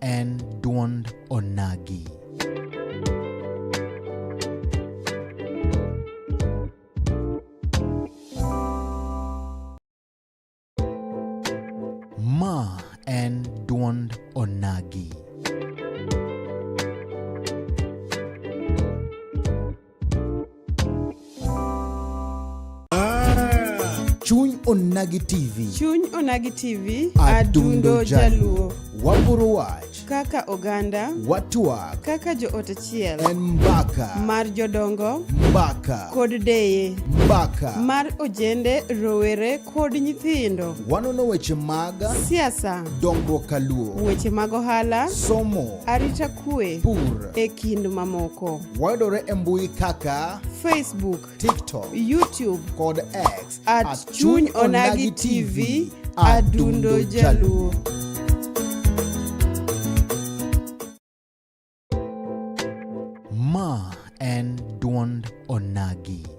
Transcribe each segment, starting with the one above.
en dwond onagi. Ma en dwond onagi. chuny onagi tv chuny onagi tv adundo jaluo waporo wach kaka oganda watwak kaka joot achiel en mbaka mar jodongo mbaka kod deye mbaka mar ojende rowere kod nyithindo wanono weche mag siasa dongruok kaluo weche mag ohala somo arita kue, pur, e kind mamoko. Wayudore e mbui kaka Facebook, TikTok, YouTube kod X at, at Chuny Onagi TV Adundo Jaluo. Ma en duond Onagi.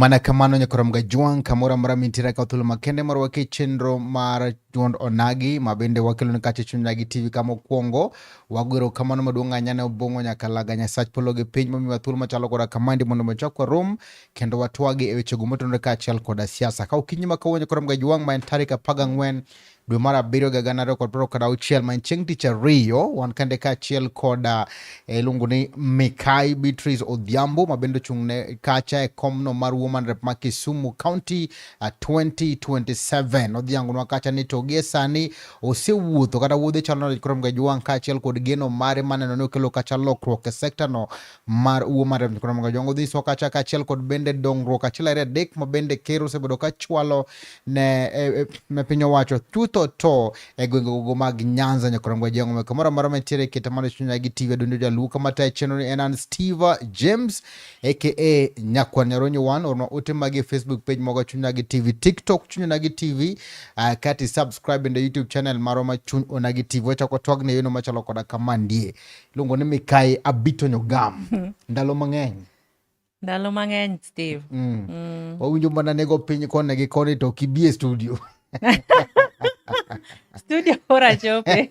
mana kamano nyakorom ga jwang' kamoro amora mintiere ka thuolo makende mar wake chenro mar duond onagi ma bende wakelo ni kacha chuny nagi tv kama okwongo wagwero kamano maduong' anya ne obong'o nyaka laga nyasach polo gi piny momiwa thuolo machalo koda kamandi mondo machakwa rom kendo watwagi e wechego motenore kaachiel koda siasa. Ka okinyi ma kawuono koro mga jwang' ma en tarik apar gang'wen dwe mar abiriyo ga gana ariyo kod piero kod auchiel ma en chieng' tich ariyo wan kande kaachiel koda eh, iluongo ni Mikai Beatrice Odhiambo ma bende ochung' ne kacha e komno mar Woman Rep ma Kisumu County 2027. Eh, Odhiangonwa kacha ni to gie sani osewuotho kata wuodhe chalo nade koro mga jwang' kaachiel kod geno mare maneno ni okelo kacha lokruok e sektano mar uo mar Ramnikonomoga Jongo dhi soka cha kaachiel kod bende dongruok achiel ariyo adek ma bende ker osebedo ka chwalo ne e, e, piny owacho chutho to e gwenge gogo mag Nyanza Nyakoromoga Jongo ma kamoro amora mantiere kete mano chunya gi tiwe dundo jaluo kama tayo chenro en an Steve James aka Nyakwa Nyaronyi wan orno ote magi Facebook page moga chunya gi TV TikTok chunya gi TV uh, kati subscribe in the YouTube channel maro ma chuny onagi TV wachako twag ne yono machalo koda kama ndie Luongo ni Mikai Abito Nyogam. Ndalo mang'eny. Ndalo mang'eny Steve. Mm. Mm. Wawinjo mana nego piny kone gi koni to kibie studio. studio ora chope.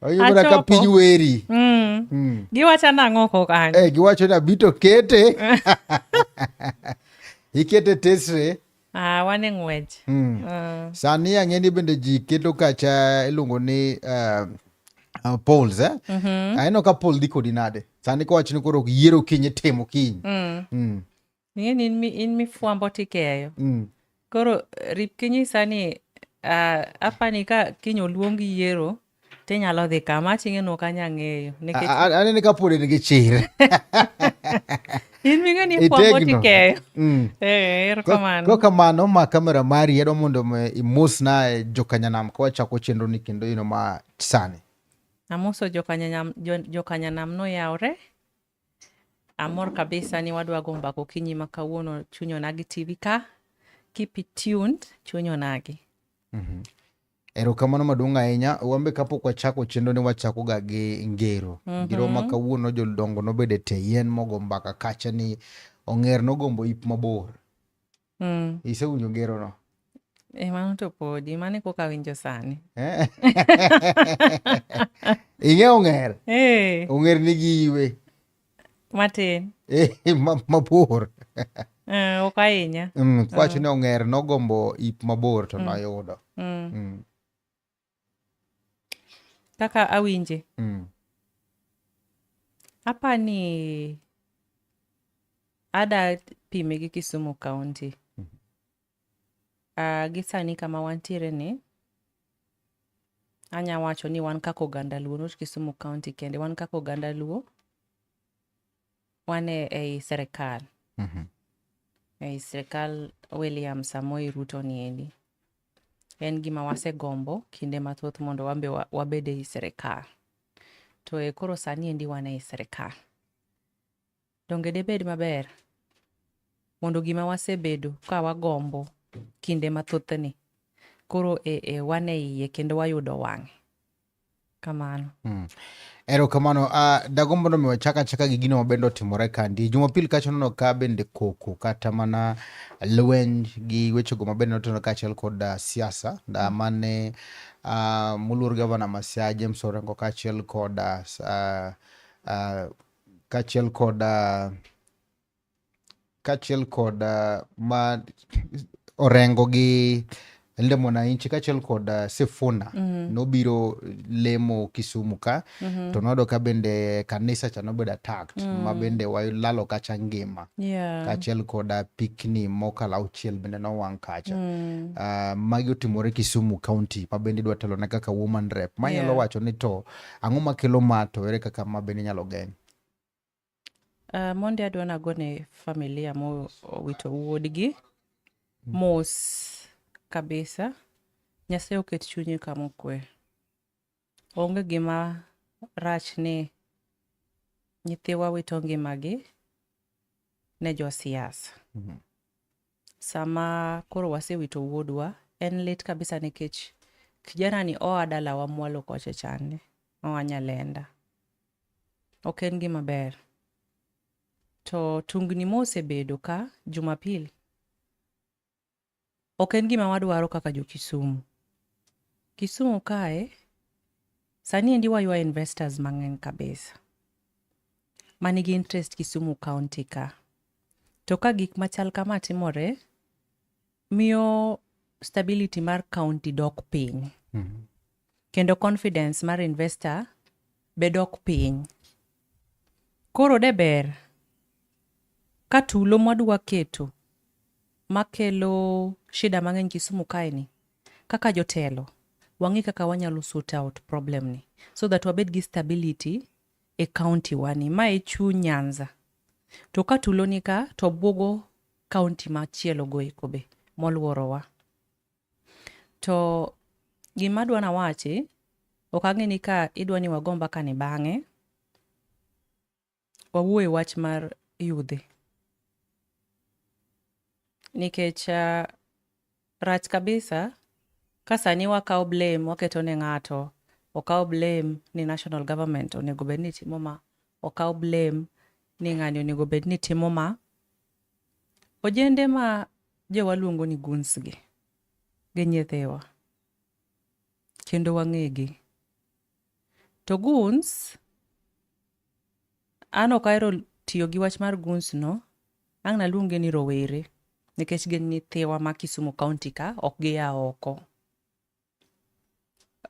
Wawinjo mana ka piny weri. Mm. Mm. Giwacho nang'o ko kanyo? Eh, giwacho na bito kete. Ikete tesre. Ah, wan e ng'wech. Mm. Ah. Sani ang'e ni bende ji keto kacha iluongo ni uh, uh, polls eh? mm -hmm. Aneno ka poll dhi kodi nade sani kowach ni koro yiero kiny itimo kiny mm. mm. Ng'eni in, in mifwambo tikeyo mm. Koro rip kinyi sani uh, apani ka kiny oluong yiero tinyalo dhi kama aching'e no kanya ng'eyo anene ka pod en gi chir in ming'e ni kwambo tikeyo mm. eh, erokamano ko kamano ma kamera mari yedo mondo imus na eh, jokanyanam ka wachako chenro ni kendo ino ma sani amoso jokanyanam jokanyanam noyawre Amor kabisa ni wadwa go mbaka okinyi ma kawuono chuny onagi TV ka. Keep it tuned, chuny onagi. Mm -hmm. Erokamano maduong' ahinya. Wambe kapok wachako chenro ni wachako ga gi ngero. Mm -hmm. Ngero ma kawuono jodongo nobede te yien mogo mbaka kacha ni ong'er nogombo ip mabor. Mm. Isewinjo ngerono? E, mano to podi, mano e koka awinjo sani. Eh? Ing'e ong'er? Eh. Ong'er nigi iwe. Matin. Eh, mabor. Eh, ok ahinya. Mm, kwacho ah. ni ong'er nogombo ip mabor to mm. noyudo. Mm. kaka awinje mm. apa ni ada pime gi kisumu county mm -hmm. uh, gi sani kama wantiere ni anya wacho ni wan kaka oganda luo not kisumu county kende wan kaka oganda luo wan e ei serikal Mhm. ei sirikal william samoi ruto niendi en gima wasegombo kinde mathoth mondo wambe wa- wabed ei sirikal to e koro sani endi wan ei sirikal donge debed maber mondo gima wasebedo ka wagombo kinde mathothni koro e, e, wan e iye kendo wayudo wang'e kamano mm. ero kamano uh, ah, dagombo no miwa chaka chaka gi gino mabende otimore kandi jumapil kacha nono ka bende koko kata mana lweny gi wechego mabende notenore kaachiel kod uh, siasa da mm. mane uh, moluor gavana masia james orengo kaachiel kod uh, uh, kaachiel kod uh, kachiel kod uh, ma orengo gi Linda Mwananchi kachiel kod uh, Sifuna mm -hmm. nobiro lemo Kisumu ka mm -hmm. to noyudo ka bende kanisa cha nobedo attacked mm -hmm. ma bende walalo kacha ngima yeah. kachiel kod uh, pikni mokalo auchiel bende nowang' kacha mm -hmm. uh, magi otimore Kisumu county ma bende idwa telo ne kaka woman rep ma yeah. nyalo wacho ni to ang'o makelo ma to ere kaka ma bende inyalo geng' Uh, mondi adwa nagone familia mowito wuodgi mos kabisa nyasaye oket chunye kamokwe onge gima rach ni nyithiwa wito ngimagi ne josiasa mm -hmm. sama koro wasewito wuodwa en lit kabisa nikech kijana ni oa dalawa mwalo koche chande oa nyalenda Ok en gima ber. To tungni mosebedo ka Jumapil ok en gima wadwaro kaka jo Kisumu. Kisumu kae sani endi waywa investors mang'eny kabisa ma nigi interest Kisumu County ka. To ka gik machal kama timore miyo stability mar county dok piny mm -hmm. kendo confidence mar investor bedok piny koro de ber ka tulo mwadwa keto makelo shida mang'eny Kisumu kaeni kaka jotelo wang'e kaka wanyalo sort out problem ni so that wabed gi stability e county wani ma e chuny Nyanza to ka tulo ni ka to bwogo kaunti machielo goeko be molworowa. To gima adwa nawachi, ok ang'e ni ka idwa ni wago mbakani bang'e, wawuoye wach mar yudhe. Nikech uh, Rach kabisa ka sani wakawo blame waketo ne ng'ato okaw blame ni national government onego bed ni timo ma okaw blame ni ng'ani onego bed ni timo ma ojende ma jowa luongo ni guns gi gi nyithiwa kendo wang'egi to guns An ok ahero tiyo gi wach mar guns no, ang' naluonge ni rowere nikech gin nyithiwa ma Kisumu County ka ok gia oko.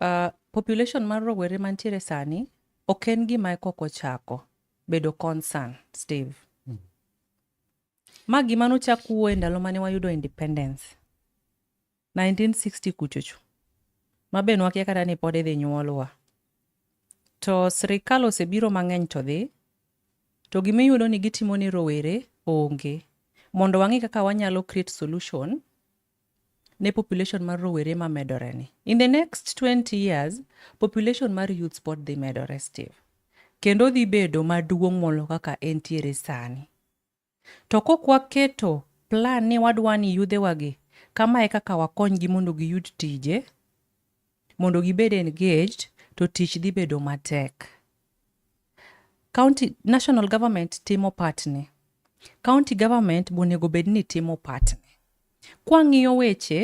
Uh, population mar rowere mantiere sani ok en gima kok ochako bedo concern Steve. Mm. Ma gima nochak wuo e ndalo mane wayudo independence 1960 kuchocho ma be nwakia kata ni pod idhi nyuolwa. To sirikal osebiro mang'eny to dhi, to gima iyudo ni gitimo ni rowere onge. Mondo wang'e kaka wanyalo create solution ne population mar rowere ma medore ni. In the next 20 years, population mar youths pod dhi medore Steve. Kendo dhi bedo maduong' molo kaka entiere sani. To kok waketo plan ni wadwa ni yudhewagi kama e kaka wakonygi mondo giyud tije, mondo gibed engaged, to tich dhi bedo matek. County, national government timo patne. County government bonego bed ni timo patne. Kwang'iyo weche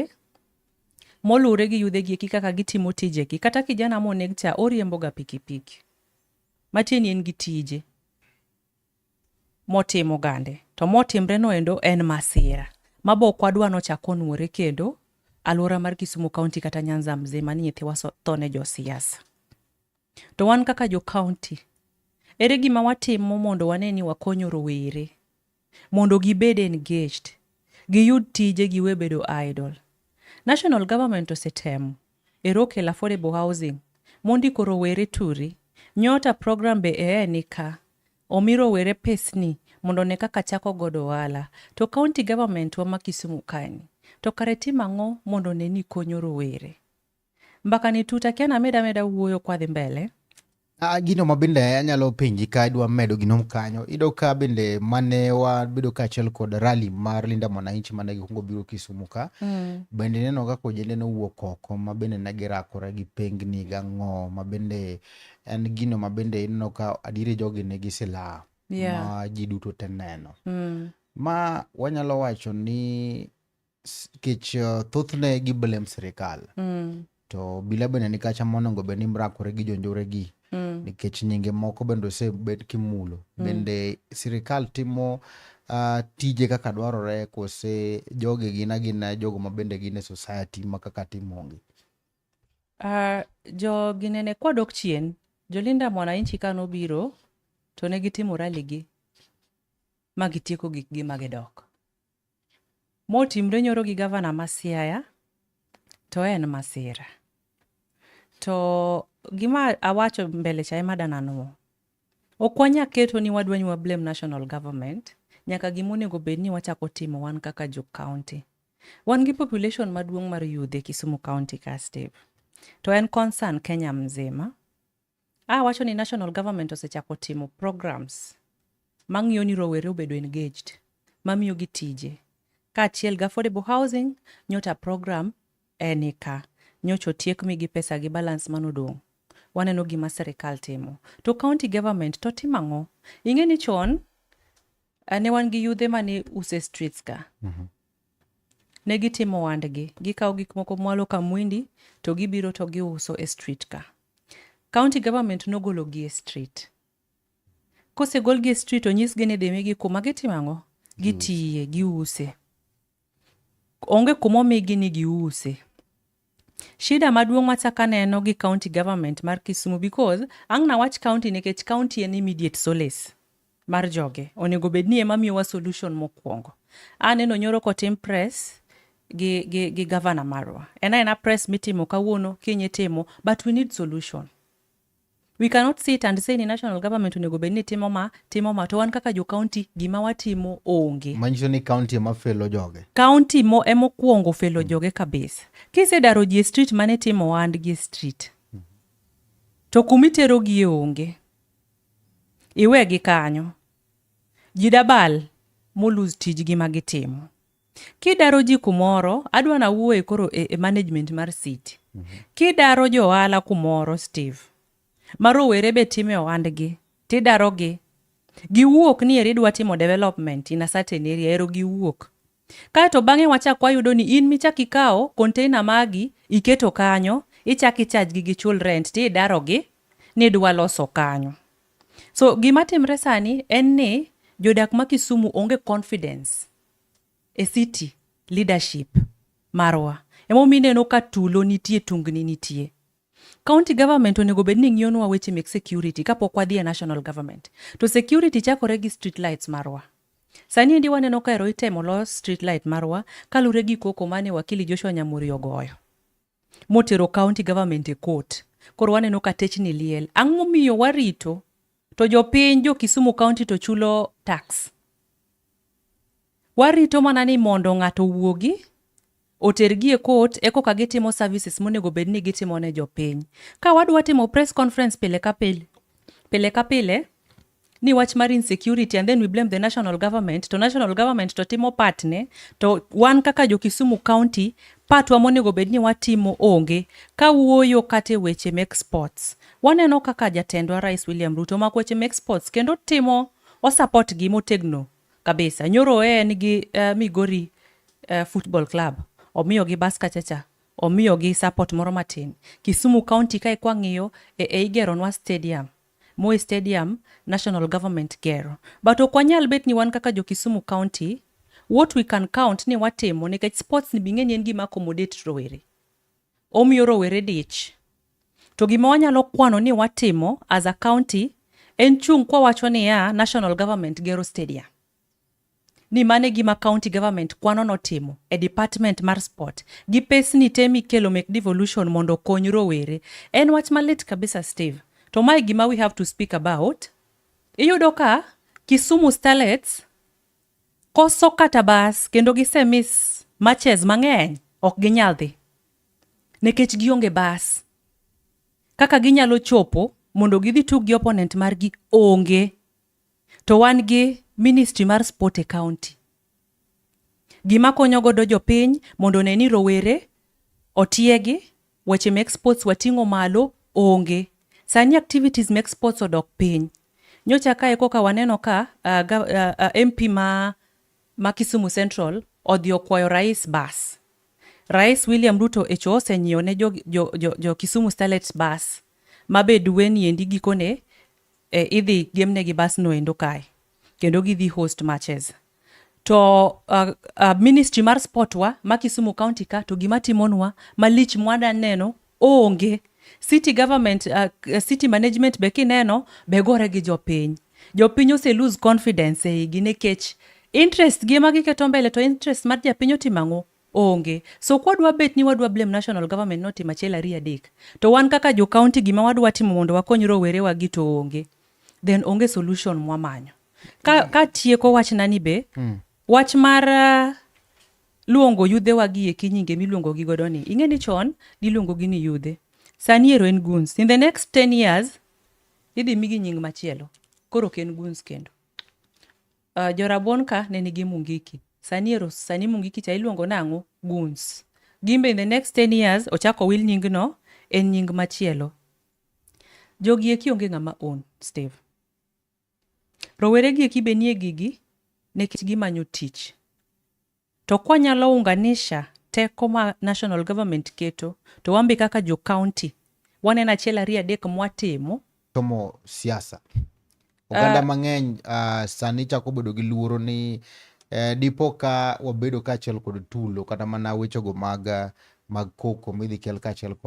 moluwre gi yudhegi eki kaka gitimo tijegi, kata kijana moneg cha oriemboga pikipiki. Matieni en gi tije. motimo gande to motimre noendo en masira mabok wadwa nochak onwore kendo aluora mar Kisumu County kata Nyanza mzima ni nyithiwa tho ne josiasa. To wan kaka jo county, ere gima watimo mondo wane ni wakonyo rowere mondo gibed engaged, giyud tije giwe bedo idle. National government osetemo Erokel affordable housing. Mondi ko rowere turi. Nyota program be ee ni ka. Omi rowere pesni mondo ne kaka chako godo ohala. To county government wa ma Kisumu kani. To kare tim ang'o mondo ne ni konyo rowere. Mbaka ni tut akia named ameda wuoyo kwadhi mbele. Ah, gino ma bende anyalo penji ka idwa medo gino kanyo ido ka bende mane wabedo kaachiel kod rali mar Linda Mwananchi mane gikwongo biro Kisumu ka mm. bende neno kaka ojende nowuok oko ma bende ne girakore gi pengni gang'o ma bende en gino ma bende ineno ka adieri jogi ne gi silaha yeah. ma ji duto te neno mm. ma wanyalo wacho ni kech uh, thothne gi blem sirikal mm. to bila bende nikacha monongo bed ni mrakore gi jonjore gi mm. nikech nyinge moko bende osebed kimulo mm. bende sirikal timo uh, tije kaka dwarore kose joge gin agina jogo ma bende gin e society ma kaka timongi uh, ah, jo ginene kwadok chien jolinda mwananchi ka nobiro to ne gitimo raligi ma gitieko gikgi ma gidok Motimre nyoro gi gavana ma Siaya to en masira. To gima awacho mbele cha ema dananwo. Ok wanya keto ni wadwa ni wa blame national government, nyaka gima onego bed ni wachako timo wan kaka jo county. Wan gi population maduong' mar yudhe Kisumu county ka Steve. To en concern Kenya mzima. A wacho ni national government osechako timo programs mang'iyo ni rowere obedo engaged, mamiyogi tije, kaachiel gi affordable housing, nyocha program eni ka, nyocha otiek migi pesa gi balance mane odong'. Waneno gima sirikal timo. To county government to timo ang'o? Ing'e ni chon eh, ne wan gi yudhe mane use streets ka. Ne gitimo ohandgi, gikawo gik moko mwalo ka mwindi to gibiro to giuso e street ka. County government nogologi e street. Kosegolgi e street onyisgi ni dhimigi kuma gitimo ang'o? Gitiye, giuse. Onge kuma omigi ni giuse. Shida maduong' machak aneno gi county government mar Kisumu because ang' nawach county nikech county en immediate solace mar joge. Onego bed ni ema miyowa solution mokwongo. Aneno nyoro kotim press gi, gi, gi governor marwa. En aena press mitimo kawuono, kiny itimo, but we need solution. We cannot sit and say ni national government onego bed ni timo ma timo ma to wan kaka jo county gima watimo onge. Manyiso ni county ema felo joge. County mo ema okuongo felo mm. joge kabisa. Kisedaro ji e street mane timo wand gi e street. Mm. To kumi tero gi e onge. Iwe gi kanyo. Jidabal mo lose tijgi ma gitimo. Kidaro ji kumoro, adwa na wuoye koro e, e management mar city. Mm -hmm. Kidaro jo ohala kumoro Steve, ma rowere be time ohandgi, tidarogi. Giwuok ni eri dwa timo development in a certain area, ero giwuok. Kaeto bang'e wachak wayudo ni in michak ikawo container magi iketo kanyo, ichak ichaj gi gichul rent ti idarogi ni dwa loso kanyo. So gima timre sani en ni jodak ma Kisumu onge confidence E city leadership marwa emomiyo ineno ka tulo nitie tungni nitie county government onego bed ni ng'iyonwa weche mek security kapok wadhi e national government to security chakore gi street lights marwa sani endi waneno ka ero itemo los street light marwa kalure gi koko mane wakili joshua nyamuri ogoyo motero county government e court. Koro waneno ka techni liel. Ang'o momiyo warito to jopiny jo Kisumu county to chulo tax? Warito mana ni mondo ng'ato owuogi otergi e court e koka gitimo services monego bed ni gitimo ne jopiny. Ka wadwa timo press conference pile ka pile, pile ka pile, ni wach mar insecurity and then we blame the national government to national government to timo patne to wan kaka jo Kisumu County patwa monego bed ni watimo onge ka wuoyo kata e weche mek sports. Waneno kaka jatendwa Rais William Ruto omako weche mek sports kendo timo osapot gi motegno kabisa. Nyoro e en gi uh, Migori uh, Football Club omiyo gi bas kachacha omiyo gi support moro matin. Kisumu County kae kwang'iyo e, e igeronwa stadium Moi stadium national government gero but ok wanyal bet ni wan kaka jo Kisumu county what we can count ni watimo nikech sports ni bing'e ni en gima accommodate rowere omiyo rowere dich to gima wanyalo kwano ni watimo as a county en chung' kwawacho niya national government gero stadium ni mane gima county government kwano notimo e department mar sport gi pesni te mikelo mek devolution mondo okony rowere en wach malit kabisa steve to mae gima we have to speak about iyudo ka kisumu starlets koso kata bas kendo gisemis matches mang'eny ok ginyal dhi nikech gionge bas kaka ginyalo chopo mondo gidhi tug gi opponent margi onge To wan gi ministry mar sport e county. Gima konyo godo jopiny mondo one ni rowere otiegi, weche mek sports wating'o malo onge. Sani activities mek sports odok piny. Nyocha kae koka waneno ka uh, uh, uh, MP ma ma Kisumu Central odhi okwayo rais bas. Rais William Ruto echo osenyiewo ne jo, jo, jo, jo Kisumu Starlets bas ma be duweni endi gikone e, idhi gemnegi basno endo kae kendo gidhi host matches to uh, uh, ministry mar sport wa ma Kisumu county ka to gima timonwa malich mwada neno Onge. City government, uh, city management be kineno be gore gi jopiny. Jopiny ose lose confidence e igi nikech interest gi ema giketo mbele to interest mar japiny otimo ang'o? Onge. So kwadwa bet ni wadwa blame national government notimo achiel ariyo adek to wan kaka jo county gima wadwa timo mondo wakony rowerewa gi to onge. Then onge solution mwamanyo. Ka, ka tieko wachnani be mm. Wach mar uh, luongo yudhewa gi eki nyinge miluongo gi godo ni. Ing'e ni chon niluongo gi ni yudhe. Sani ero en guns. In the next 10 years idhi migi nying machielo. Koro ok en guns kendo. Uh, Jorabuon ka ne nigi Mungiki. Sani ero sani Mungiki cha iluongo nang'o? Guns. Gimbe in the next 10 years ochako wil nying no en nying machielo. Jogi eki onge ng'ama own Steve. Rowere gi eki be nie gigi nekech gimanyo tich. To kwanyalo unganisha teko ma national government keto to wambe kaka jo county waneno achiel ariyo adek mwatimo somo siasa oganda uh, mang'eny uh, sani chako bedo gi luoro ni eh, dipo ka wabedo kaachiel kod tulo kata mana wechego mag mag koko midhi kel kaachiel kod